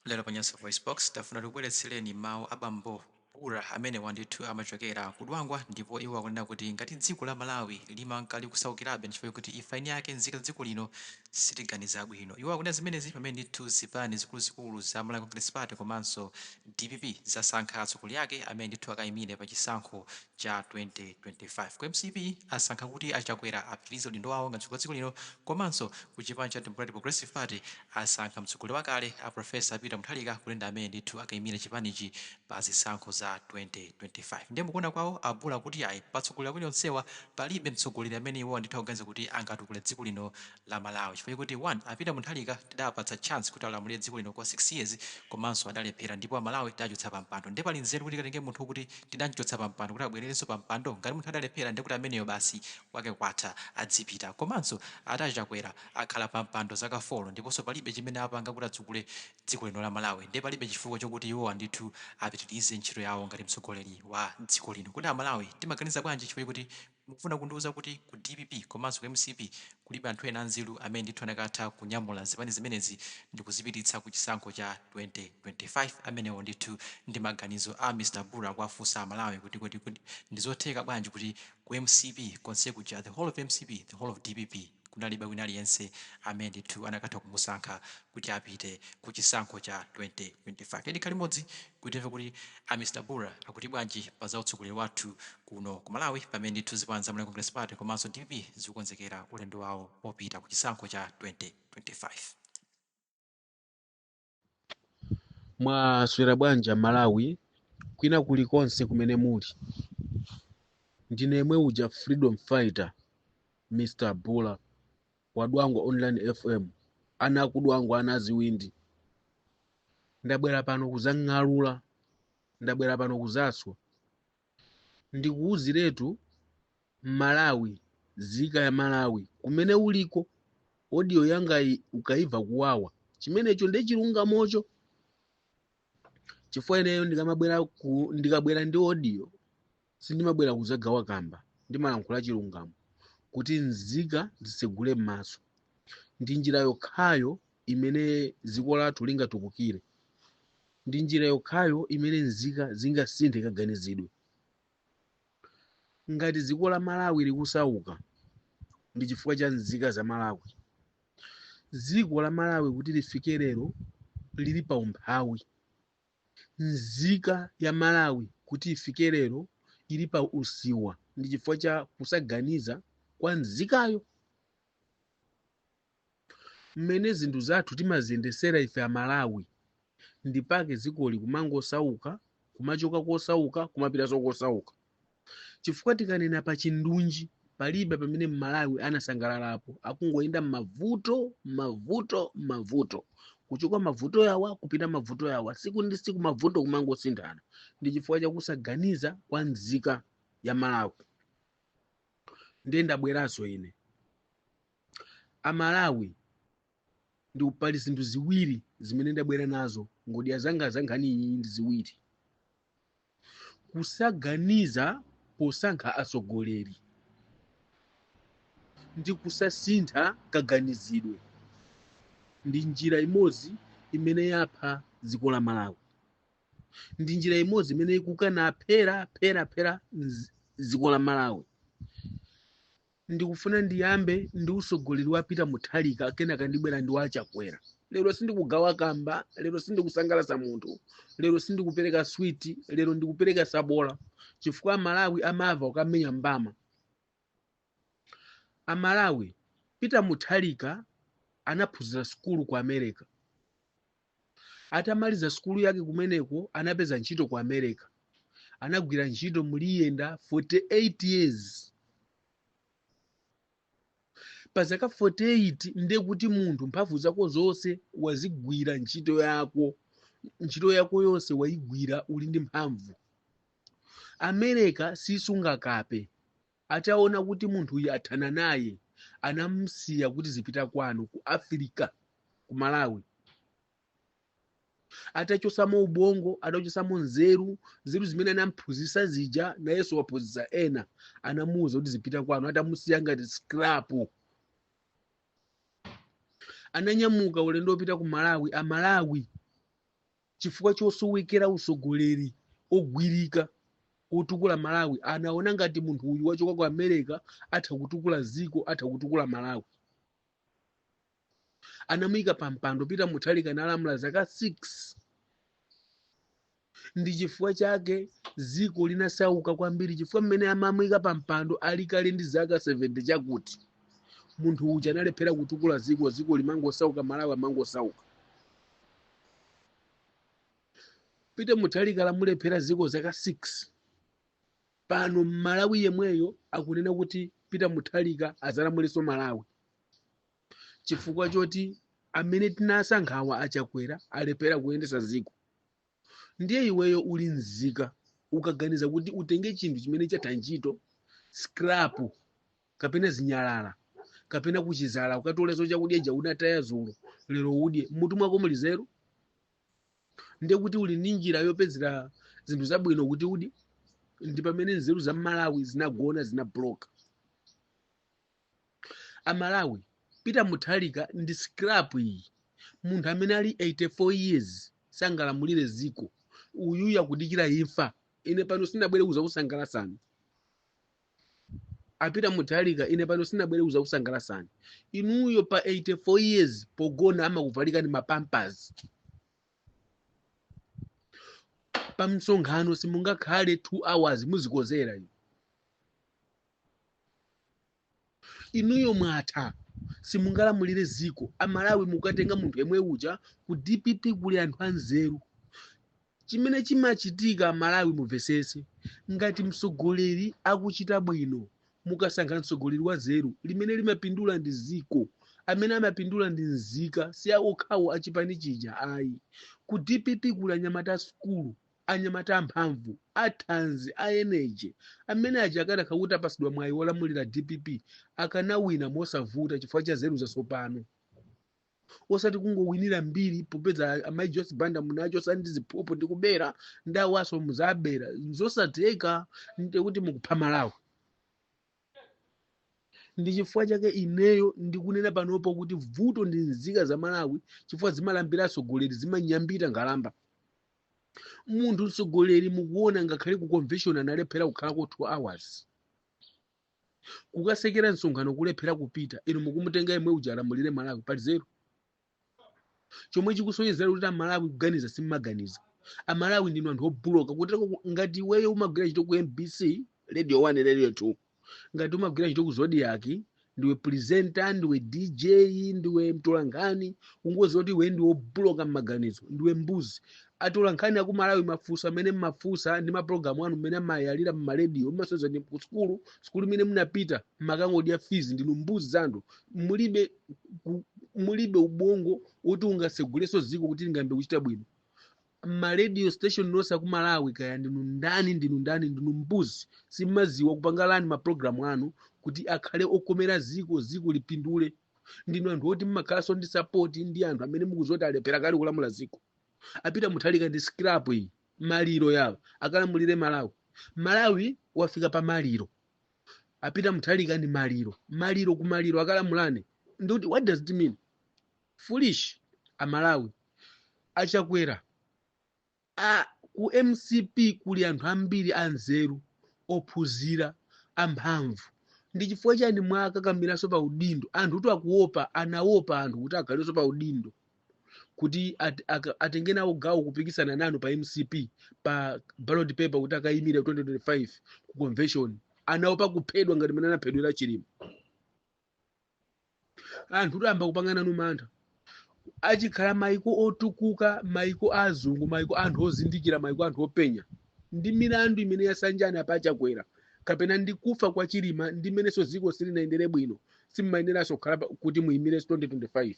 Lero pa Nyasa VoiceBox, tafuna tikubweretsereni mawu a bambo Bula amenewa ndithu amachokera ku Dwangwa ndipo iwo akunena kuti ngati dziko la Malawi limanka likusaukirabe nchifukwa choti ife eni ake nzika za dziko lino sitiganiza bwino. Iwo akunena zimenezi pamene ndithu zipani zikuluzikulu za Malawi Congress Party komanso dpp zasankha atsogoleri ake amene ndithu akayimire pa chisankho cha 2025. Ku mcp asankha kuti a Chakwera apitirize udindo wawo ngati mtsogoleri wa dziko lino komanso ku chipani cha Democratic Progressive Party Asankha mtsogoleri wakale a Prof Peter Mutharika kuti ndi amene ndithu akaimire chipanichi pa zisankho za 2025. Ndiye mu kuona kwawo a Bula kuti yayi pa atsogoleri awiri onsewa palibe mtsogoleri amene iwowa ndithu akuganiza kuti angatukule dziko lino la Malawi chifukwa choti 1 a Peter Mutharika tidawapatsa chance kuti alamulire dziko lino kwa 6 years komanso adalephera ndipo a Malawi tidawachotsa pa mpando ndiye pali nzeru kuti tikatenge munthu wokuti tidamchotsa pa mpando kuti abwererenso pa mpando? Ngati munthu adalephera ndiye kuti ameneyo basi kwake kwatha adzipita komanso ati a Chakwera akhala pa mpando zaka folo ndiponso palibe chimene apanga kuti atukule dziko lino la Malawi ndiye palibe chifukwa chokuti iwowa ndithu apitilize ntchito yawo ngati mtsogoleri wa dziko lino kodi a Malawi timaganiza bwanji chifukwa choti mukufuna kundiuza kuti ku dpp komanso ku mcp kulibe anthu ena anzeru amene ndithu anakatha kunyamula zipani zimenezi ndikuzipititsa ku chisankho cha 2025 amenewo ndithu ndi maganizo a Mr Bula akuwafunsa a Malawi kuti kodi kodi ndizotheka bwanji kuti ku mcp konsekuja the whole of mcp the whole of dpp kunalibe wina aliyense amene ndithu anakatha kumusankha kuti apite ku chisankho cha 2025. Tiyeni tikhale limodzi kuti timve kuti a Mr Bula akuti bwanji pa za utsogoleri wathu kuno ku Malawi pamene ndithu zipani za Malawi Congress Party komanso dpp zikukonzekera ulendo wawo opita ku chisankho cha 2025. mwaswera bwanji malawi kwina kulikonse kumene muli ndine yemwe uja freedom fighter mr bula wa dwangwa online fm ana a ku dwangwa ana aziwindi ndabwera pano kuzang'alula ndabwera pano kuzaswa ndikuuziretu malawi nzika ya malawi kumene uliko audio yangayi ukaiva kuwawa chimenecho nde chilungamocho chifukwa ineyo ndikamabwera ku ndikabwera ndi audio sindimabwera kuzagawa kamba ndimalankhula chilungamo kuti nzika zisegule m'maso ndi njira yokhayo imene dziko lathu lingatukukire. Ndi njira yokhayo imene nzika zingasinthe kaganizidwe. Ngati dziko la Malawi likusauka, ndi chifukwa cha nzika za Malawi. Dziko la Malawi kuti lifike lero lili pa umphawi. Nzika ya Malawi kuti ifike lero ili pa usiwa ndi chifukwa cha kusaganiza kwa nzikayo. mmene zinthu zathu timaziyendesera ife a Malawi ndipake dzikoli kumangosauka kumachoka kosauka kumapitanso kosauka chifukwa tikanena pa chindunji palibe pamene mmalawi anasangalalapo akungoyenda mmavuto mmavuto mmavuto kuchoka mavuto yawa kupita mavuto yawa siku ndi siku mavuto kumangosinthana ndi chifukwa chakusaganiza kwa nzika ya malawi ndiye ndabweranso ine amalawi ndi pali zinthu ziwiri zimene ndabwera nazo ngodya zanga za nkhani iyi ndi ziwiri kusaganiza posankha atsogoleri ndi kusasintha kaganizidwe ndi njira imodzi imene yapha dziko la malawi ndi njira imodzi imene ikukana phera phera phera dziko la malawi Ndikufuna ndiyambe ndi usogoleri wa Peter Mutharika kenaka ndibwera ndi wa Chakwera. Lero sindikugawa kamba, lero sindikusangalasa munthu, lero sindikupereka switi, lero ndikupereka sabola chifukwa a Malawi amava ukamenya mbama. A Malawi, Peter Mutharika anaphunzira sukulu ku America. Atamaliza sukulu yake kumeneko, anapeza ntchito ku America. Anagwira ntchito muli yenda 48 years. Pa zaka 48 ndiye kuti munthu mphamvu zako zonse wazigwira ntchito yako, ntchito yako yonse wayigwira uli ndi mphamvu. America sisunga kape. Ataona kuti munthuyu athana naye anamusiya kuti zipita kwanu ku Afirika ku Malawi. Atachosamo ubongo, atachosamo nzeru, nzeru zimene anamphunzitsa zija nayenso waphunzitsa ena, anamuuza kuti zipita kwanu, atamusiya ngati scrap. Ananyamuka ulendo wopita ku Malawi, a Malawi chifukwa chosowekera usogoleri ogwirika otukula malawi anaona ngati munthu uyu wachoka ku america atha kutukula ziko atha kutukula malawi anamuyika pa mpando peter mutharika analamula zaka 6 ndi chifukwa chake ziko linasauka kwambiri chifukwa mmene amamuyika pa mpando ali kale ndi zaka 70 chakuti munthu uja analephera kutukula ziko ziko limangosauka malawi amangosauka peter mutharika lamulephera ziko zaka 6 pano mmalawi yemweyo akunena kuti peter mutharika azalamulenso malawi chifukwa choti amene tinasankhawa achakwera alephera kuyendesa ziko ndiye iweyo uli mzika ukaganiza kuti utenge chinthu chimene chatha ntchito scrap kapena zinyalala kapena kuchizala ukatoleso chakudya ija unataya zulo lero udye mmutu mwako muli zeru ndiye kuti uli ndi njira yopezera zinthu zabwino kuti udye ndi pamene nzeru za malawi zinagona zinabuloka amalawi peter muthalika ndi scrap iyi munthu amene ali 84 years sangalamulire ziko uyu akudikira imfa ine pano sinabwere kuzakusangalasani apita muthalika ine pano sinabwere kuzakusangalasani inuyo pa 84 years pogona amakuvalikani mapampers pa msonkhano simungakhale 2 hours muzikozera inu inuyo mwatha simungalamulire ziko amalawi mukatenga munthu yemwe uja ku dpp kuli anthu anzeru chimene chimachitika malawi muvesese ngati msogoleri akuchita bwino mukasankha msogoleri wazeru limene limapindula ndi ziko amene amapindula ndi nzika si awokhawo achipani chija ayi ku dpp kuli anyamata asukulu anyamata amphamvu athanzi a energy amene aja akanakhala kuti apasidwa mwayi wolamulira dpp akanawina mosavuta chifukwa cha zeru zasopano osati kungowinira mbiri popeza amayi joyce banda munachosa ndi ziphuphu ndi kubera ndi awaso muzabera zosatheka ndiye kuti mukupha malawi ndi chifukwa chake ineyo ndikunena panopo kuti vuto ndi nzika za malawi chifukwa zimalambira atsogoleri zimanyambita nkhalamba munthu mtsogoleri mukuona ngakhale ku convention analephera kukhalako 2 hours kukatsekera msonkhano kulephera kupita inu mukumutenga yemwe uja alamulire malawi pali zeru chomwe chikusonyezera kuti amalawi kuganiza simmaganiza amalawi ndinu anthu obuloka kuti ngati iweyo umagwira ntchito ku mbc radio 1 radio 2 ngati umagwira ntchito ku zodiak ndiwe presenter ndiwe dj ndiwe mtolankhani ungoziwa kuti iwe ndiwe obuloka mmaganizo ndiwe mbuzi Atolankhani aku Malawi mafunso amene mmafunsa ndi maprogramu anu mmene amayalira mma radio mmasonyeza ndi ku sukulu sukulu imene mnapita mmakangodya fees ndinu mbuzi za anthu mulibe ku- mulibe ubongo woti ungaseguleso ziko kuti lingayambe kuchita bwino mma radio station nonse aku Malawi kaya ndinu ndani ndinu ndani ndinu mbuzi simmaziwa kupanga plan maprogramu anu kuti akhale okomera ziko ziko lipindule ndinu anthu oti mmakhalanso ndi sapoti ndi anthu amene mukudziwa kuti alephera kale kulamula dziko a Peter Mutharika ndi scrap iyi maliro yawo akalamulire malawi malawi wafika pa maliro a Peter Mutharika ndi maliro maliro ku maliro akalamulane ndikuti what does it mean foolish amalawi a Chakwera ku mcp kuli anthu ambiri anzeru ophunzira amphamvu ndi chifukwa chani mwakakamiranso pa udindo anthu kuti akuopa anaopa anthu kuti akhalenso pa udindo kuti at, ak- atenge nawo gawo kupikisana nanu pa mcp pa ballot paper kuti akayimire 2025 ku convention anaopa kuphedwa ngati mene anaphedwera chilima anthu kuyamba kupanga nanu mantha achikhala maiko otukuka maiko azungu maiko a anthu ozindikira maiko a anthu openya ndi milandu imene yasanjana apa a Chakwera kapena ndi kufa kwa chilima ndi mmenenso dziko silinayendere bwino simumayeneranso kukhala pa- kuti muyimirenso 2025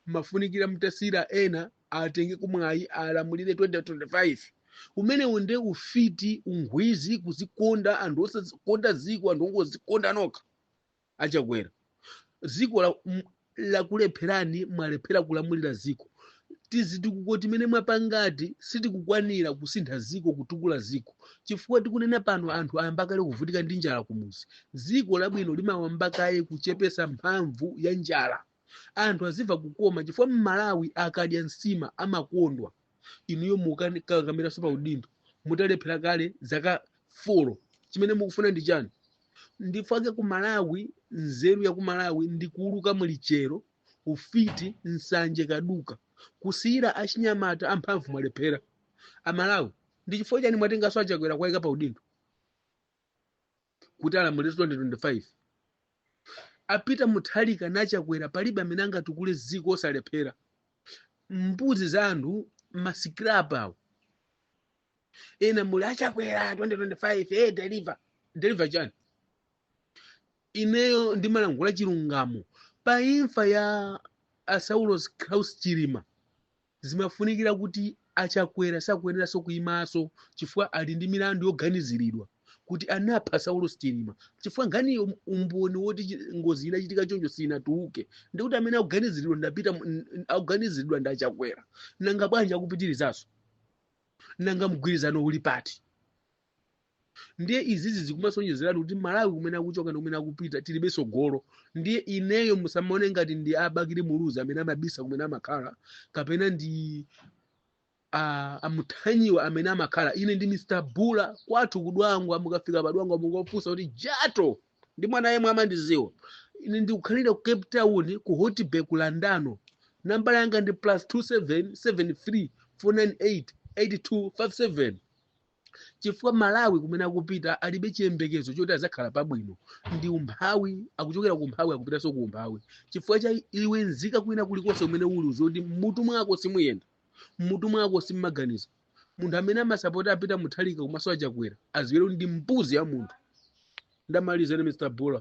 mmafunikira mutasiyira ena atengeko mwayi alamulire 2025 umenewo nde ufiti ugwizi kuzikonda anthu osakonda ziko anthu ongozikonda nokha a Chakwera ziko la- m- lakulepherani mwalephera kulamulira ziko tizitukuko timene mwapangati sitikukwanira kusintha ziko kutukula ziko chifukwa tikunena pano anthu ayamba kale kuvutika ndi njala kumuzi ziko labwino limawamba kaye kuchepesa mphamvu ya njala anthu azimva kukoma chifukwa mmalawi akadya nsima amakondwa inuyo mukukakamiranso pa udindo mutalephera kale zaka folo chimene mukufuna ndi chani ndifake ku malawi nzeru ya ku malawi ndi kuuluka mlichero ufiti nsanje kaduka kusiyira achinyamata amphamvu mwalephera amalawi ndi chifukwa chani mwatenganso a Chakwera kuwaika pa udindo kuti alamulire 2025 a Peter Mutharika na a Chakwera palibe amene angatukule ziko onse alephera mbuzi za anthu masikirapa awo ena muli a Chakwera 2025 eh deliver deliver chani ineyo ndimalankhula chilungamo pa imfa ya a Saulos Klaus Chilima zimafunikira kuti a Chakwera sakuyeneranso kuimanso chifukwa ali ndi milandu yoganiziridwa kuti anapha Saulos Chilima chifukwa nkhaniyo umboni woti chi- ngozi inachitika choncho sinatuluke ndikuti amene akuganiziridwa ndi a Peter mu- n- n- akuganiziridwa ndi a Chakwera nanga bwanji akupitirizanso nanga mgwirizano uli pati ndiye izizi zikumasonyezeratu kuti malawi kumene akuchoka ndi kumene akupita tilibe tsogolo ndiye ineyo musamaone ngati ndi abakili muluzi amene amabisa kumene amakhala kapena ndi a- amuthanyiwa amene amakhala ine ndi mr bula kwathu kudwangwa mukafika padwangwa mungofunsa kuti jato ndi mwana yemwe amandidziwa ine ndikukhalira ku cape town ku hout bay ku landano nambala yanga ndi plus 2773 498 8257 chifukwa malawi kumene akupita alibe chiyembekezo choti adzakhala pabwino ndi umphawi akuchokera ku umphawi akupitanso ku umphawi chifukwa cha iwe nzika kwina kulikonse kumene uli uzoti mmutu mwako simuyenda mmutu mwako simmaganiza munthu amene amasapota a peter mutharika komanso achakwera adziwe ndi mbuzi ya munthu ndamaliza ine mr bula